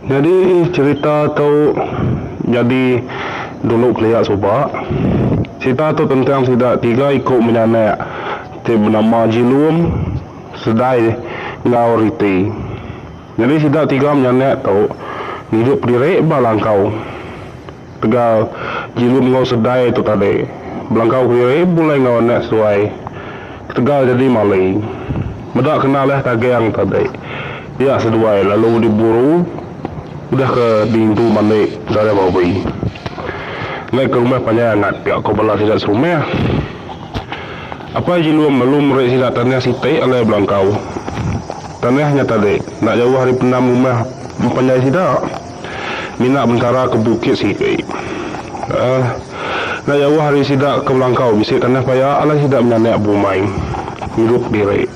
Nyadi cerita tu nyadi dulu kelia suba. Cerita tu tentang sida tiga iku menyanak ti benama Jilum, Sedai enggau Riti. Nyadi sida tiga menyanak tu ngidup diri ba langkau. Tegal, Jilum enggau Sedai tu tadi belangkau kediri bebulai enggau anak seduai ketegal jadi mali. Meda kena leh tagang tadi, dia seduai lalu diburu udah ke diintu mandi Saudara Bobby. Endai ke rumah panjai angat ga ko bala sida serumah. Apai Jilum lalu meri sida tanah siti alai belangkau. Tanah nya tadi enda jauh ari pendam rumah empanjai sida. Mina bentara ke bukit sengkei. Aa. Enda jauh ari sida ke belangkau bisi tanah paya alai sida menyanak bumai ngirup diri.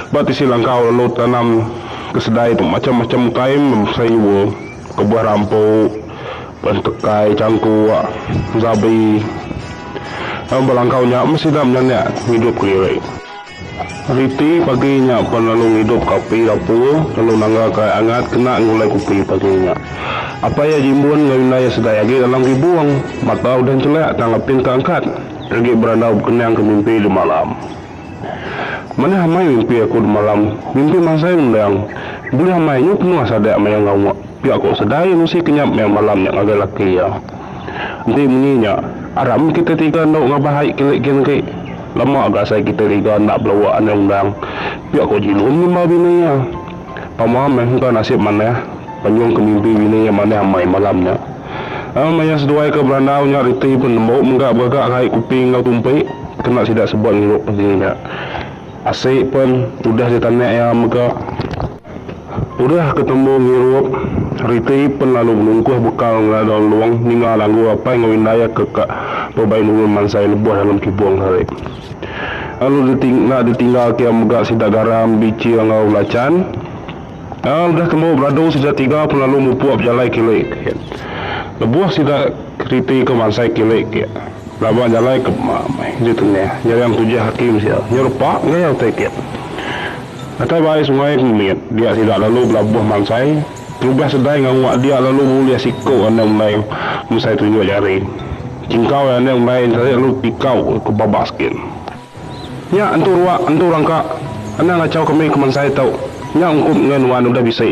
Ba tisi langkau lalu tanam ke sedai tu macham-macham utai meh sayur, kebuah rampu, pentekai, changkuk, zabi. Dalam belangkau nya meh sida menyanak ngidupka diri. Ari ti pagi nya pan lalu ngidup ka api dapur lalu nangga ka ai angat kena ngulai kupi pagi nya. Apai iya jimbun enggau indah iya segai agi dalam gibung. Mata udah nchelek tang apin ka angkat agi berandau bekening ke mimpi demalam. Manah amai mimpi aku demalam, mimpi mansai ngendang. Bulih amai nyu penuh sadek maya ngawa pia ko segai iya mesti kenyap maya malam nya ngagai laki iya. Enti munyi nya, aram kitai tiga endu ngabah ai kilik gin agi. Lama ga asai kitai riga enda belawa andai undang. Pia ko Jilun ngimba bini iya. Pama meh engka nasib manah penyung ke mimpi bini iya manah amai malam nya. Aa maya seduai ke berandau nya reti pun lembu mega begaga kai kupi enggau tumpi kena sida sebut ngirup diri nya. Asi pen udah ditanak iya mega. Udah ke tembu ngirup, Riti pen lalu nungkuh bekal ngela daun long ninga langgur apai enggau indai ke ka bebai nulun mansai lebuh dalem kibung hari. Lalu Riti enda ditinggal kia mega sida garam, bichi enggau belachan. Aa udah tembu beradu sida tiga pen lalu mupuk bejalai kili ke. Lebuh sida Riti ke mansai kili ke, laba jalai ke ma meh ditenyah nyaring Tujah Hakim sia nyerepa gaya utai ke. Atai bai sungai ke mit dia sida lalu belabuh mansai kelubah sedai ngawa dia lalu ngulih siko ande undai mesai tunjuk jari chingkau ai ande undai entarik lalu tikau ke babak sikit nya entu ruak entu rangka anang ngachau kami ke mansai tu nya ungkup engai nuan udah bisi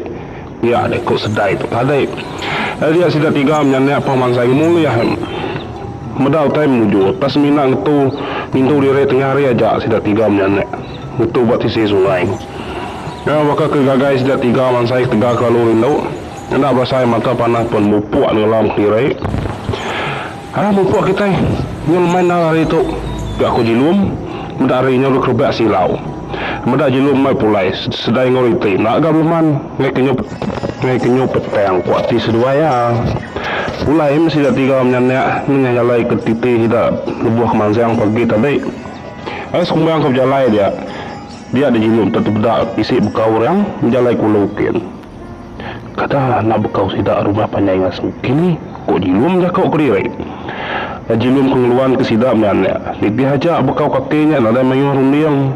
dia deh ko sedai tu tadi lalu dia sida tiga menyanak pang mansai ngemulih meda utai mujur pas semina ngetu ngintu diri tengah hari aja sida tiga menyanak. ngetu ba sisi sungai. Nyau baka ke gagai sida tiga mansai ketegal kelalu rindu. Enda berasai mata panah pen mupuk nenggelam kediri. Alah mupuk kitai nyau lemai endar ari tu, pia ku Jilum meda ari nyau dikerebak silau. Meda Jilum mai pulai sesedai enggau reti enda ga beleman ngai kenyau ngai kenyau petang ku ati seduai iya. Pulai meh sida tiga menyandak nengah jalai ke titi sida lebuh kemansang pagi tadi. Ari sekumang ke bejalai dia, dia diyinu enti tebeda bisi bekau orang bejalai kulu ukin. Kada enda bekau sida rumah panjai ngasu kini, ku Jilum jaku kediri. Nya Jilum ke ngeluanka sida maya nya. Nitih aja bekau kaki nya nadai mayuh runding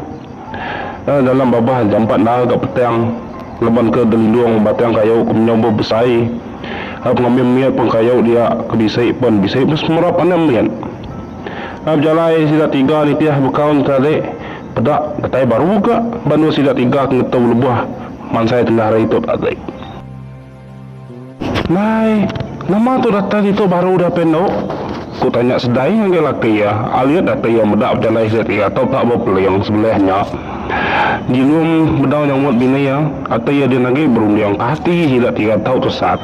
nya dalam babah jampat endar ga petang laban ke gelindung batang kayu ke menyau bebesai pengambi mit pun kayu dia ke bisi pen bisi mesemerap anang mit. Lalu jalai sida tiga nitih bekau netarik peda datai baru ka banua sida tiga ke ngetu lebuh mansai tengah hari tu tadi. Nai, nama tu datai ditu baru dapih endo? ku tanya Sedai ngagai laki iya alit dapih iya meda bejalai sida tiga tu ka ba peling sebelih nya. Jilum bedau nyambut bini iya, ati iya din agi berunding ka ati sida tiga tu tesat.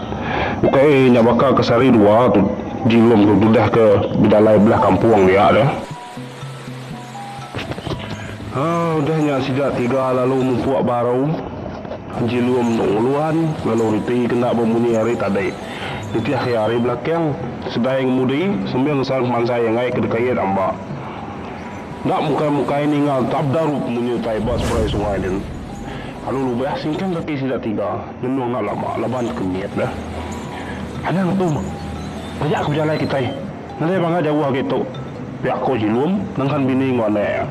Ukai nya baka ke sehari dua tu Jilum tu tudah ke bedalai belah kampung dia deh. Haa udah nya sida tiga lalu mupuk baru. Jilum endu nguluan lalu reti ke enda bemunyi ari tadi. Nitih iya ari belakang sedai ngemudi sambil ngesan pemansai enggai ke dekait amba. Enda mukai-mukai ninga tabdarup munyi utai ba seberai sungai din. Lalu lubah singkang kaki sida tiga. Ngenu enda lama laban ku mit deh. Anang aku majak ke bejalai kitai ngalai bangga jauh agi tu pia ko Jilum nengkan bini enggau anak iya.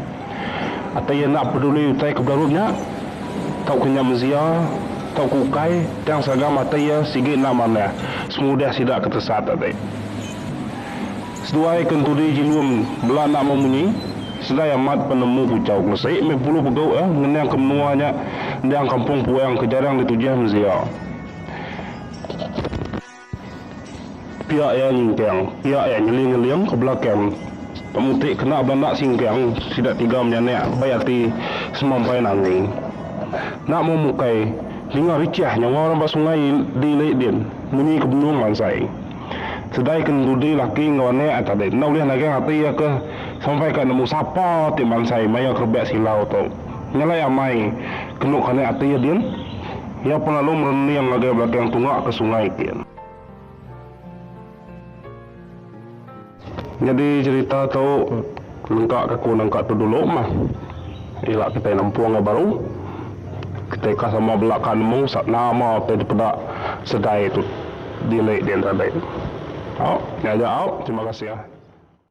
Ati iya enda peduli utai ke bedarup nya tauka nya mezia tauka ukai tang seragam ati iya sigi enda manah semudih sida ke tesat ati. Seduai kenturi Jilum bela enda mau munyi, segai amat penemu puchau Kelesik meh pulu pegau iya ngeningka menua nya endang kampung puang ke jarang ditujih mensia. Pia iya nyingkang, pia iya nyeling-nyeling ke belakang Pemutik kena belanda singkang sida tiga menyanak bai ati semampai nangi. Enda mau mukai, ninga richah nyawa orang ba sungai di Lake Din munyi ke benung mansai. Sedai ke ngerudi laki enggau anak ati dek enda ulih nagang ati iya ke sampai ka nemu sapa ti mansai maya ke rebak silau tu. Nyelai amai kenu kanak ati iya din. Iya pun lalu merening ngagai belakang tunga ke sungai tin. Nyadi cerita tu nengka ke aku nengka tu dulu mah ila kitai nempung iya baru kitai ka sama belaka nemu nama ti dipeda segai tu dili diantara dai au nyaga au terima kasih.